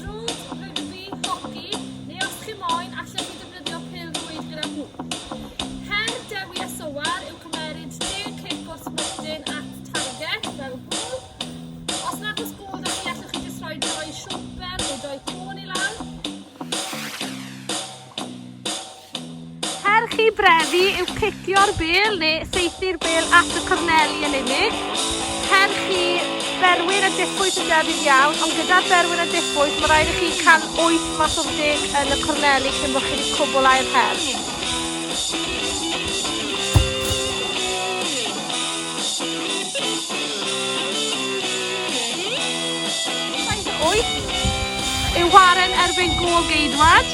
Drws, rygbi, hoci, neu os chi moyn, allech chi defnyddio pêl-rwyd gyda hwb. Her Dewi a Sowar yw cymeryd 10 cic o'r smwtyn at target, fel hwnnw. Os nad oes bod â chi, allwch chi jyst rhoi doi siwmper neu doi côn i lawr. Her chi brefu yw cicio'r bêl neu saethu'r bêl at y corneli yn unig. Her chi berwyn a diffwys yn debyg iawn, ond gyda'r berwyn a diffwys mae rhaid i chi cael 8 mas o'r deg yn y corneli cyn bod chi wedi cwblhau'r her. Wyth yw waren erbyn gôl geidwad.